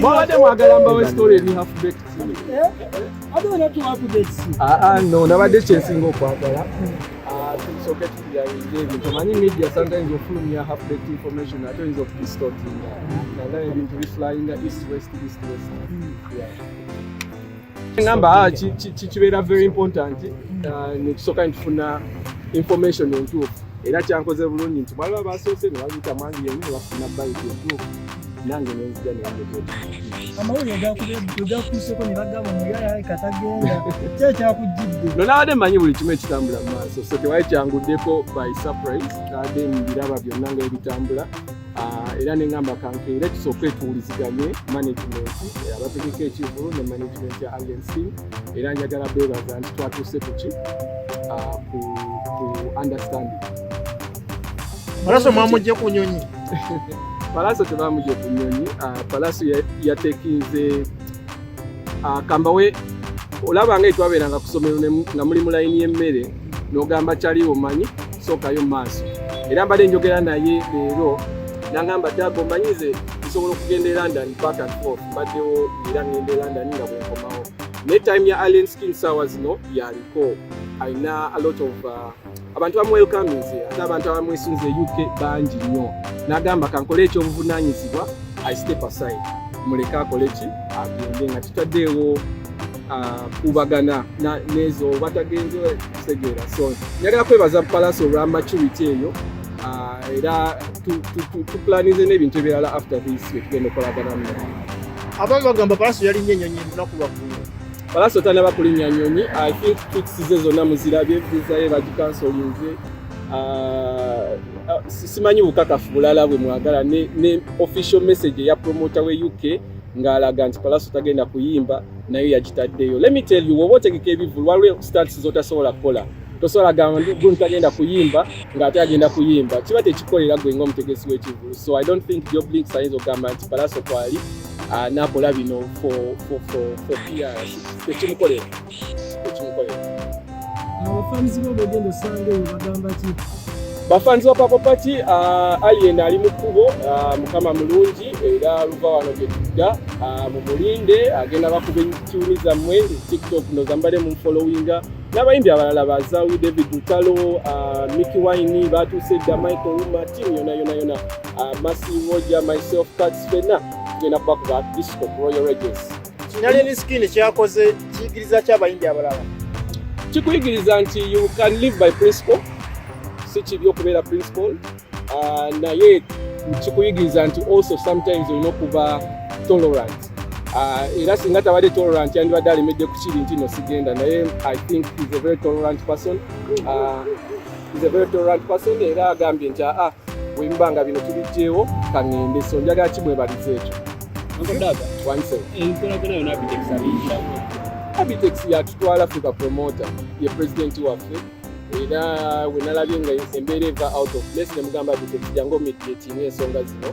mwabadde mwagala mbawe story eri half baked aa no nabadde kyensinga okwagala tusoke tuyainga ebintu omanyi media sometimes ofulumya half baked information ate oyinza okudistortinga nagala ebintu biflyinga east west east west ngamba ah, kibeera very important uh, netusooka nitufuna information entuufu era kyankoze bulungi nti baliba basoose nebabita mwangi yemu nebafuna bayiti entuufu nange nenzija amawulire gakuseeko nebagamba muyaaye katagenda kyekyakujjidde no nabadde manyi buli kimu ekitambula mu maaso so tewali kyanguddeko by surprise nabadde mbiraba byonna nga ebitambula Ah, era ne ngamba kankeere tusooke tuwuliziganye management eh, abategeka ekivulu ne management ya alnc era njagala beebaza nti twatuuse kuki ah, ku understanding palaso mwamugye ku nyonyi palaso tebamugye ku nyonyi ah, palaso yatekinze ah, kambawe olaba nga etwabeeranga ku ssomero nga muli mu layini y'emmere n'ogamba kyali omanyi sookayo maaso era mbadde njogera naye leero nangamba daga omanyize nsobola okugenda e london back and forth mbaddewo era ngenda e london nga bwenkomawo naye time ya alien skin sawa zino yaliko alina a lot of uh, abantu bamwelkaminze ate abantu abamwesunze uk bangi nnyo nagamba kankole ekyobuvunanyizibwa i step aside muleke akole ki agende nga tutaddeewo uh, kubagana nezo oba tagenze kutegeera so njagala kwebaza palace olwa maturity eyo uh, era tuplanize n'ebintu ebirala after this wetugenda okolaganamu abamu bagamba palace yalinye enyonyi lunaku lwaggulu Palaso tanaba kulinnya nyonyi i think tweets ze zonna muzirabye visa ye bagikansolinze ah, ah, simanyi bukakafu bulala bwe mwagala ne, ne official message eya promota we uk ng'alaga nti palaso tagenda kuyimba nayo yagitaddeyo let me tell you woba otegeka ebivulu waliwo stats zotasobola kukola tosobola gamba gun tagenda kuyimba ng'ate agenda kuyimba kiba tekikolera gwe nga omutegesi w'ekivulu so i don't think joblinks ayinza okugamba nti palaso kwali Ah, nakola bino ekimukolera bafanzi ba papapaki ah, alien ali mu kkubo ah, mukama mulungi era luva wano gyetudda mumulinde agenda bakuba ekiwuni zammwe tiktok nozambale mumfolowinga n'abayimbi abalala bazawi david lutalo miki wine batuuse dda michael uma tiimu yona yona yona uh, Massive Roger, myself, Kats Fena, tugenda kuba kuba Disco Royal Regis. Kinali ni skin kyakoze kiyigiriza ki abayimbi abalala? Kikuyigiriza nti you can live by principle, si kibi okubeera principle, uh, naye kikuyigiriza nti also sometimes olina okuba tolerant Ah, era singa tabadde tolerant yandibadde alemedde ku kiri nti no sigenda naye i think is a very tolerant person uh, He's a very tolerant person era agambye nti aa wemba nga bino tubijjeewo kangende so njagala kimwebaliza ekyo abitex yatutwala ffe bapromota ye pulezidenti waffe era wenalabye nga embeera eva out of place nemugamba abitex jangu omitiatinga ensonga zino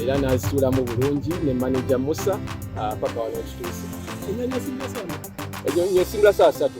era nazituulamu bulungi ne manaja musa ah, paka wano ekituuse enyanya esimula saa satu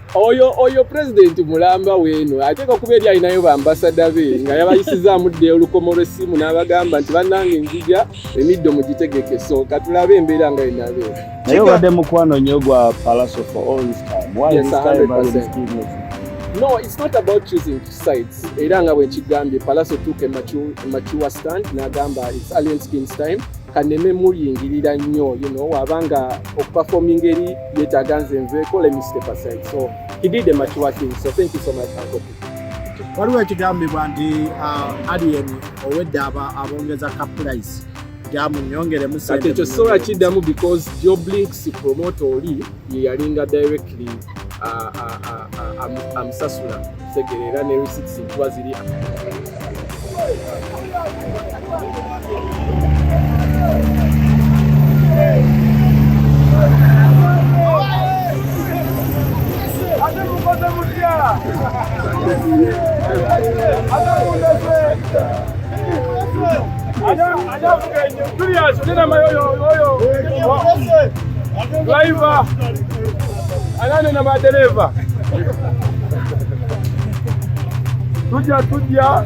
oyo oyo president mulamba wenu ateeka kuba eri alinayo bambasada be nga yabayisizaamu dde olukomo lw'essimu n'abagamba nti bannange nzija emiddo mugitegeke so katulabe embeera nga enabe naye obadde mukwano nnyo gwa palaso for all this time why yes, this time by this business no it's not about choosing sides era nga bwenkigambye palaso tuuka emature stand n'agamba it's alien skins time kaneme muyingirira nnyo you know wabanga okuperforminga eri yetaaga nze nveeko let me step aside so he did a much working so thank you so much uncle waliwo ekigambibwa nti uh, alien owedde abongeza ka price gyamunyongeremu kati ekyo sobola kiddamu because joblix promote oli yeyalinga directly uh, uh, amusasula Segere era ne receipts kuba ziri Ada anane na madereva tuja tuja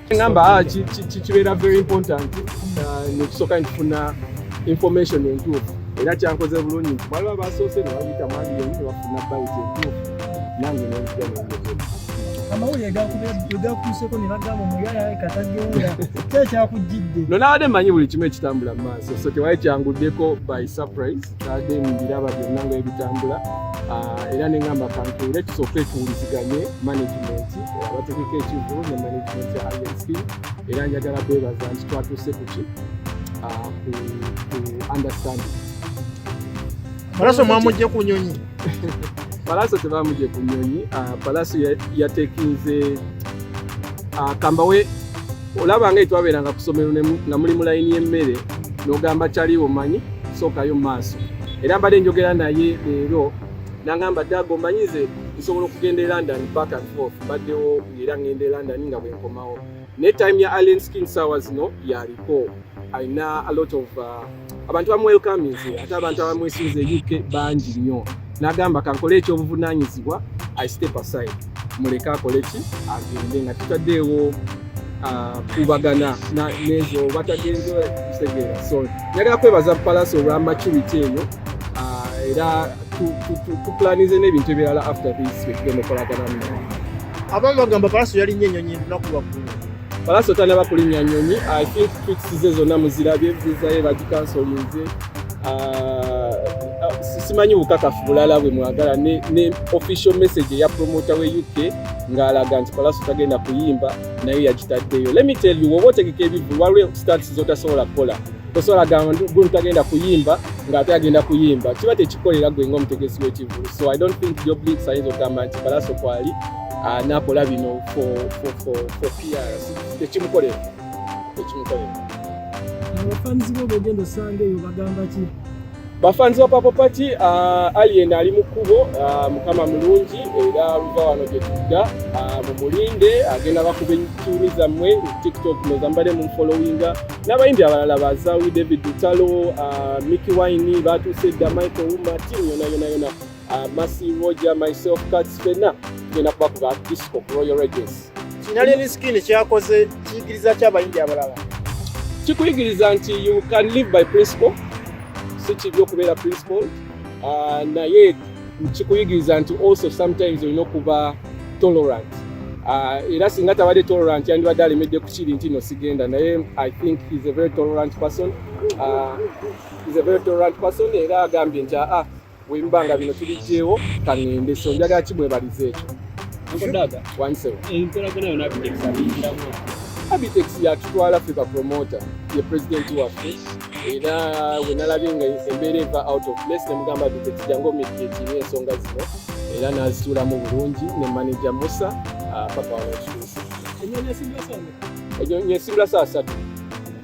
Ngamba ah, kibeera very important uh, nekusooka nifuna information entuufu era kyankoze bulungi nti baliba basoose ne babiyita mwandi yemu ne bafuna bayiti entuufu nange nenkuja nengezo amawulire gakuseeko ne bagamba omuyaayaye katagenda kyekyakujjidde no nabadde mmanyi buli kimu ekitambula mu maaso so tewali kyanguddeko by surprise tade mu biraba byonna nga ebitambula ah, era ne ngamba kantuule tusooke tuwuliziganye management eh, abategeka ekivu ne management ya inc era njagala bebaza nti twatuuse kuki ah, ku understanding malaso mwamujje ku nyonyi palaso tebamuje ku nyonyi ah, palaso yatekinze kambawe olaba nga etwabeeranga ku ssomero nga muli mu layini y'emmere n'ogamba kyali omanyi sookayo mu maaso era mbadde njogera naye leero nangamba daaga omanyi nze nsobola okugenda e london back and forth mbaddewo era ngenda e london nga bwenkomawo ne time ya allen skin sawa zino yaliko alina a lot of uh, abantu bamwelkaminze ate abantu abamwesinze uk bangi nnyo nagamba kankole ekyobuvunanyizibwa i step aside muleke akole ki agende nga tutaddeewo uh, kubagana nezo batagenze kutegeera so njagala kwebaza palaso olwa maturity eyo uh, era tuplanize n'ebintu ebirala after this wetugemukolaganamu abamu bagamba palaso yalinnya enyonyi lunaku lwaggulu Palaso tanaba kulinnya nyonyi i think tweets ze zonna muzirabye viza ye bagikansolinze ah, ah, simanyi bukakafu bulala bwe mwagala ne, ne official message eya promota we uk ng'alaga nti palaso tagenda kuyimba nayo yagitaddeyo let me tell you woba otegeka ebivu waliwo stants zotasobola kukola tosobola gamba gunu tagenda kuyimba ng'ate agenda kuyimba kiba tekikolera gwe nga omutegesi w'ekivulu so i don't think joblix ayinza okugamba nti palaso kwali ah, nakola bino tekimukolera tekimukolera abafanzi bo bogenda osanga eyo bagamba ki bafanzi ba papo pati ah, alien ali mu kkubo ah, mukama mulungi era luva wano gyetudda mumulinde agenda bakuba ekiumi zammwe tiktok nezambale mumfolowinga n'abayimbi abalala bazawi david utalo miki wine batuuse edda michael uma timu yona yona yona Uh, Masi Roger, myself, Kats Fena, tugenda kuba kuba disco ku Royal Regis. Kinali ni skin kyakoze kiyigiriza kya bayindi abalala. Kikuyigiriza nti you can live by principle. Si kibyo kubeera principle. Uh, naye kikuyigiriza nti also sometimes olina okuba tolerant. Uh, era singa tabadde tolerant yandibadde alemedde ku kiri nti no sigenda naye I think he's a very tolerant person. Uh, he's a very tolerant person era agambye nti ah, ah Weruba nga bino tubiggyewo kangende so njagala kimwebaliza ekyo abitex yatutwala ffe bapromota ye pulezidenti waffe era wenalabye nga embeera eva out of place nemugamba abitex jangu omikiekiri ensonga zino era nazituulamu bulungi ne manaja musa ah, papa wanekituusi enyo nyesimula saa satu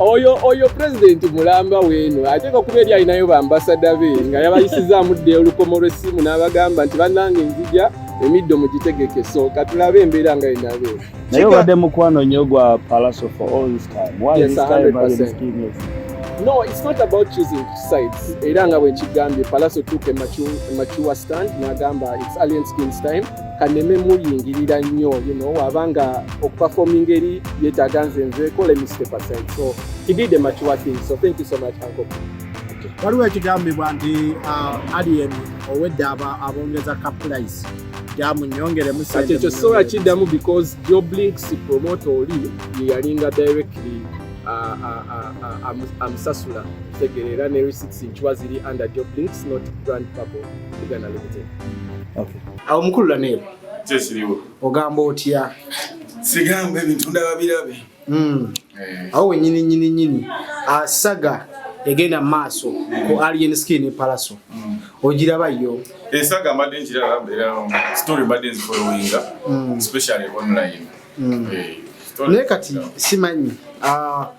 oyo oyo pulezidenti mulamba weeno ateeka okuba eri alinayo bambasada be nga yabayisizaamu dde olukomo lw'essimu n'abagamba nti bannange nzija emiddo mugitegeke so katulabe embeera nga enabe naye obadde mukwano nnyo gwa palaso for all this time why yes, this time 100%. no it's not about choosing sides era nga bwenkigambye palaso tuuka emacuwa stand n'agamba it's alien skins time kaneme muyingirira nnyo you know waba nga okuperforming eri yetaaga nze nze kola mr percent so he did a mature thing so thank you so much uncle waliwo ekigambibwa nti uh, alien owedde abongeza kapulayisi gyamunyongeremu kati ekyo sobola kiddamu because joblinks promote oli yeyalinga directly amusasula tegeera ne receipts nkiwa ziri under joblinks not grand purple uganda limited Okay. Awo mukulu Lanero. Kyesiriwo. Ogamba otya? Sigamba ebintu ndaba birabe. Mm. Eh. Awo wenyini nyini nyini. Asaga egenda maaso mm. ku Alien Skin Palaso. Mm. Ogiraba yo. Esaga eh, mbadde nkiraba mbeera um, story mbadde nzifolowinga. Mm. Especially online. Mm. Eh. Naye kati simanyi. Ah. Uh,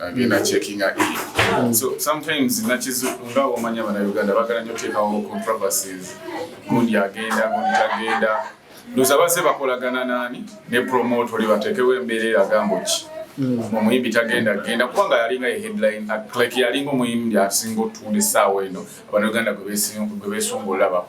agenda mm. checkinga e mm. so sometimes nakizu nga omanya bana uganda bagala nyo tekawo controversies gundi agenda gundi tagenda ndoza base bakolagana nani ne promote oli batekewo embeera eragambo ki mm. omuyimbi tagenda genda kubanga yalinga ye headline like yalinga omuyimbi asinga otuula essaawa eno abana uganda gwe besunga olabako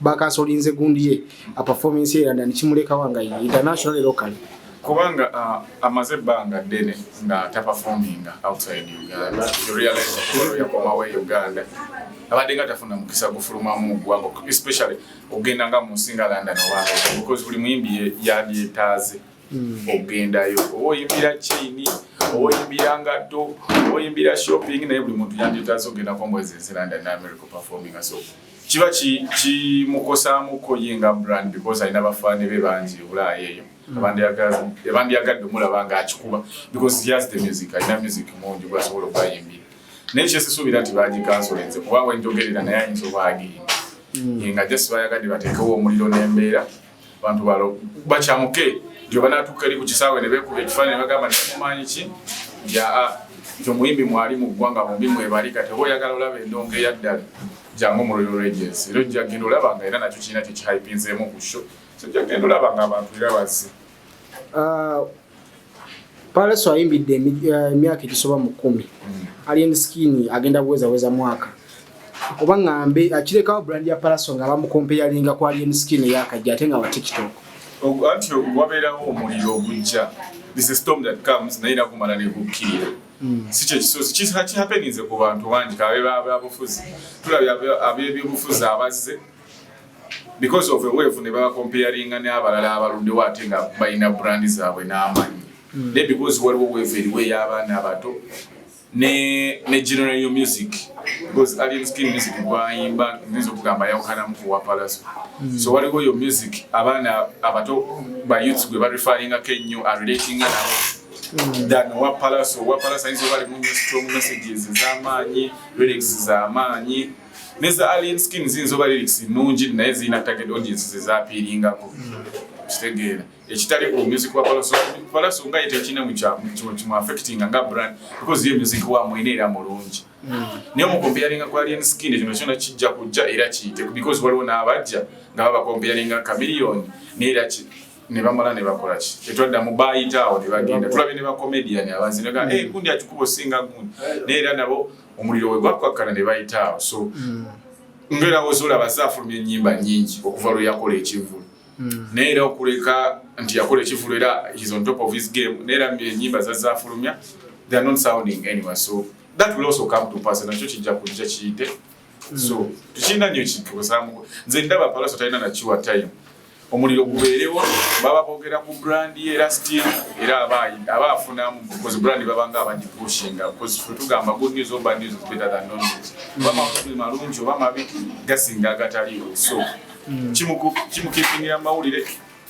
bakasolinze gundi ye a performance ye London kimuleka wanga ye international e locally kubanga uh, amaze ebbanga ddene nga taperforminga outside uganda yakomawo e uganda abadde nga tafuna mukisa gufulumamu mugwanga especially okugenda nga munsi nga london owabeause buli muyimbi yabyetaaze hmm. okugendayo oba oyimbira chaini oba oyimbira ngatto oba oyimbira shopping naye buli muntu yandyetaaze okugenda kombwezi ensi london ne america performinga so kiba kimukosaamuko ye nga brand because alina bafaane be bangi ebulaayo eyo ebandyagadde omulaba nga akikuba because yas the music alina music mungi gwasobola okubayimbira naye kyesisuubira nti bagikansolenze kuba wenjogerera naye ayinza obwagiyimba hmm. nga just bayagadde bateekewo omuliro n'embeera abantu balo bakyamuke nti obanatuuka eri ku kisaawe ne beekuba ekifaananyi bagamba nti mumaanyi ki nti aa nti omuyimbi mwali mu ggwanga bombi mwebali kati oba oyagala olaba endongo eyaddala jangu mu royal regens era ojja genda olaba nga era nakyo kirina kyekihaipinzeemu ku sho so ojja genda olaba nga abantu era bazze ah, Palaso ayimbidde eh, emyaka egisoba mu kumi hmm. Alien Skin agenda kuweza weza mwaka oba ngambe akirekawo brand ya Palaso nga bamukompeyalinga ku Alien Skin eyakajja ate nga wa TikTok anti wabeerawo omuliro ogujja this is storm that comes naye nakumala nekukkirira hmm. si kyekisozi kihapeninze ku bantu bangi kabe babufuzi tulabye abebyobufuzi abazze because of a wave ne baba comparing ne abalala abaluddewo ate nga balina brand zaabwe n'amanyi mm. ne because waliwo wave eriwo ey'abaana abato ne ne general yo music because alien skin music gwayimba nzizo kugamba yawukanamu ku wapalaso mm. so waliwo yo music abaana abato ba youths gwe bareferringa ko ennyo arelatinga nabo mm. than wapalaso wapalaso ayinza oba alimu nyo strong messages z'amaanyi lyrics z'amaanyi ne za alien skin ziyinza oba lyrics nnungi naye zirina target audience ze zaapiiringako kitegeera ekitali ku music wa palaso palaso nga ye tekirina mukimu affecting nga brand because ye music wa mwene era mulungi naye omukompeyaringa ku alien skin ekino kyona kijja kujja era kiyite because waliwo n'abajja nga babakompeyaringa kamiliyoni naye era ne bamala ne bakola ki tetwadda mu baayitaawo ne bagenda tulabye ne bacomedian abanzi nega eh, gundi akikuba osinga gundi naye era nabo omuliro we gwakkakkana ne bayita awo so mm. ngera wozula bazafulumya enyimba nyingi okuva lwe yakola ekivulu mm. naye era okuleka nti yakola ekivulu era is on top of his game naye era enyimba zazafulumya they are not sounding anywhere so that will also come to pass nakyo kijja kujja kiyite mm. so tukirina nyo kituusamuko nze ndaba palaso talina nakiwa time omuliro gubeerewo baba boogera ku brand ye era still era aba afunamu because brand baba nga abagipushinga because fe tugamba good news or bad news is better than no news oba makulu malungi oba mabi gasinga agataliwo so hmm. kimukipingira mawulire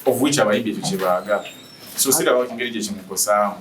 of which abayimbi ekyo kyebaagala so siraba kingeri gye kimukosaamu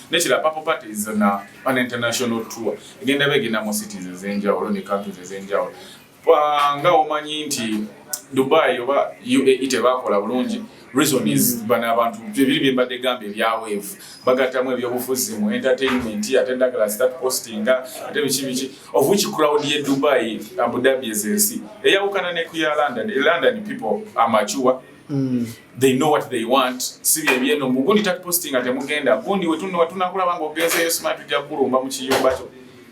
Nekira Purple Parties na an international tour egenda begenda mu cities ezenjawulo ne countries ezenjawulo nga omanyi nti Dubai oba UAE tebakola bulungi reason is hmm. bana abantu bibiri byembadde gamba ebya wave bagattamu ebyobufuzi mu entertainment ate ndagala start posting ate biki biki of which crowd ye Dubai Abu Dhabi ezensi eyawukana ne ku ya London London people are mature Mm. they know what they want si byebyeno mbu gundi takupositi nga temugenda gundi wetunowa tunakulaba nga ogenzeyo sima tujja kulumba mu kiyumba kyo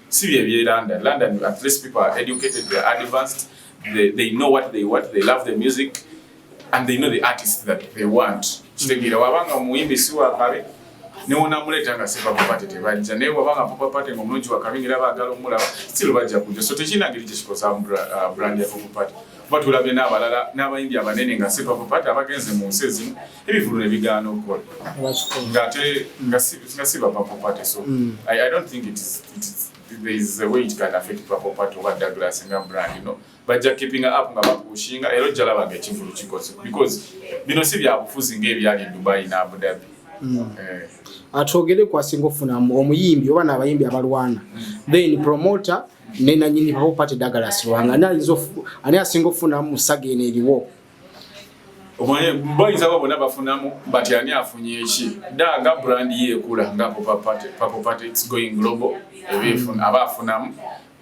si byebye london london at least people are educated they are advanced they, they know what they want they love the music and they know the artist that they want kitegeera wabanga omuyimbi si wakabe newonamuleeta nga sipapapate tebajja naye wabanga papapate nga omulungi wakabi ngaera baagala omulaba still bajja kujja so tekiina ngeri kyekikosa uh, brand ya papapate kuba tulabye n'abalala n'abayimbi abanene nga sipapapati abagenze mu nsi ezimu ebivulu ne bigaana okukola ng'ate nga si bapapapati so mm. I, i don't think it is, it is there is a way it can affect papapati oba douglas nga brand you know bajja keeping up nga bakushinga era ojja laba nga ekivulu kikoze because bino si byabufuzi ng'ebyali dubai ne abu dhabi mm. eh. atwogere kwasinga ofuna omuyimbi oba n'abayimbi abalwana mm. then promoter ne nanyini bawo pate dagala siwanga na izo ani asinga ofuna musaga ene eriwo omwaye boyinza babo bona bafunamu but ani afunye eki daga brand ye kula nga papa pate papa pate it's going global ebifun mm. aba afunamu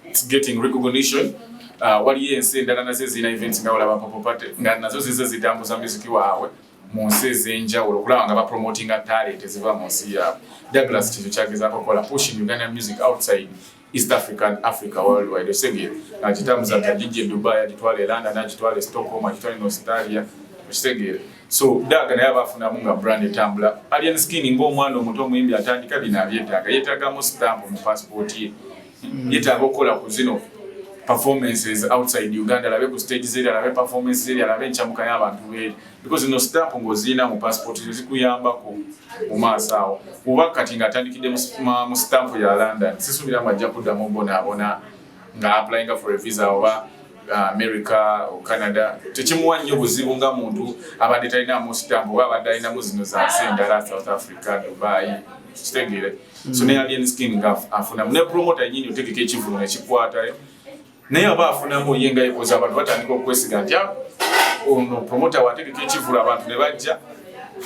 it's getting recognition uh, waliyo ensi endala nazo ezirina events nga olaba papa pate nga nazo zize zitambuza miziki waabwe mu nsi ez'enjawulo okulaba nga bapromotinga talent eziva mu nsi yaabwe douglas kintu kyagezaako okukola pushing uganda music outside East African Africa worldwide osebye akitambuza tajijje e Dubai akitwala e London akitwala e Stockholm akitwala e Australia okitegeera so daaga naye abafunamu nga brand etambula alien skin ng'omwana omuto omuyimbi atandika bino abyetaaga yeetaagamu stamp mu passport ye hmm. yeetaaga okukola ku zino performances outside uganda alabe ku stage zeri alabe performances zeri alabe encamuka y'abantu beeri because zino stamp ng'ozirina mu passport zo zikuyambako mu maaso awo kuba kati ng'atandikidde mu stamp ya london sisuubira mu ajja kuddamu bonaabona nga applyinga for a visa oba uh, america o canada tekimuwa nnyo buzibu nga muntu abadde talinamu stamp oba abadde alinamu zino zansi endala south africa dubai kitegeere so ne alien skin nga afunamu ne promota yenyini otegeka ekivulu nekikwata naye aba afunamu ye nga yebuuza abantu batandika okwesiga nti ah, ono promota wategeka ekivulu abantu ne bajja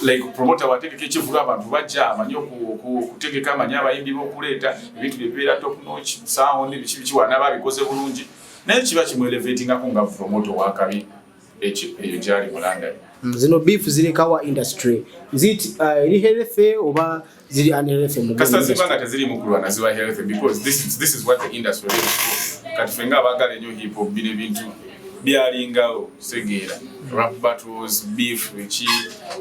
like promota wategeka ekivulu abantu bajja amanyi okutegeka amanyi abayimbi bokuleeta ebintu byebeera toknoc sound biki biki wanaba abikoze bulungi naye kiba kimwelevatingako nga promota owakabi eyo gyali mu London. Mm, zino beef zirekawa industry zit uh, eri healthy oba ziri unhealthy mu kasa ziba nga teziri mu kulwana ziba healthy because this is, this is what the industry is for kati ffe nga abaagala ennyo hip hop bino ebintu byalingawo segeera rap battles beef eki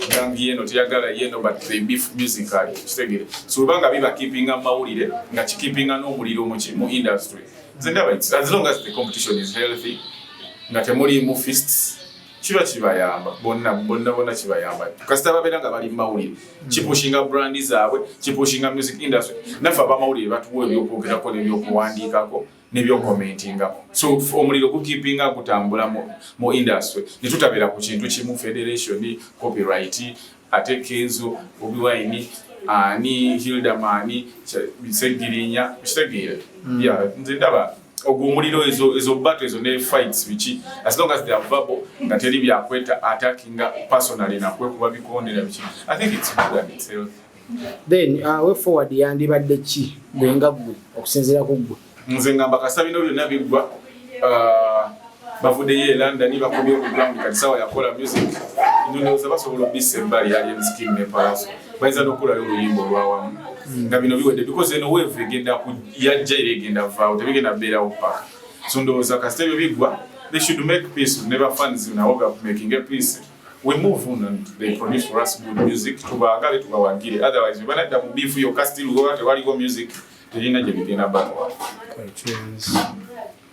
gang yeno teyagala yeno but the beef music ali kitegeera so oba nga biba keepinga mawulire nga kikipinga n'omuliro mu industry nze ndaba as long as the competition is healthy nga temuliimu fists kiba kibayamba bonna bonna bonna kibayamba kasita babeera nga bali mumawulire hmm. kipushinga brand zaabwe kipushinga music industry naffe abamawulire batuwa ebyokwogerako nebyokuwandiikako nebyokomentingako so omuliro gukipinga gutambula mu industry netutabeera ku kintu kimu federation copyright ate kenzo bobi wine ani hilda mani segirinya kitegeera hmm. ya nze ndaba ogwo omuliro ezo ezo battle ezo ne fights biki as long as they are verbal nga teri byakweta attacking personally na kwe kuba bikondera biki i think it's good and it's healthy then uh, way forward yandibadde ki gwe nga gwe okusinziira ku gwe nze ngamba kasita bino byonna biggwa uh, bavuddeyo e london bakomye okuground kati sawa yakola music ndowooza basobola obissa ebbali alienskin ne palaso bayinza nokukolayo oluyimba olwawamu hmm. nga bino biwedde because eno wevu egenda yajja era egenda vaawo tebigenda beerawo paka so ndowooza kasita ebyo biggwa they should make peace ne bafans nabo bakumakinge peace we move on and they produce for us good music tubaagale tubawagire otherwise webanadda mu beef yokka still oba tewaliwo music terina gye bigenda bakowa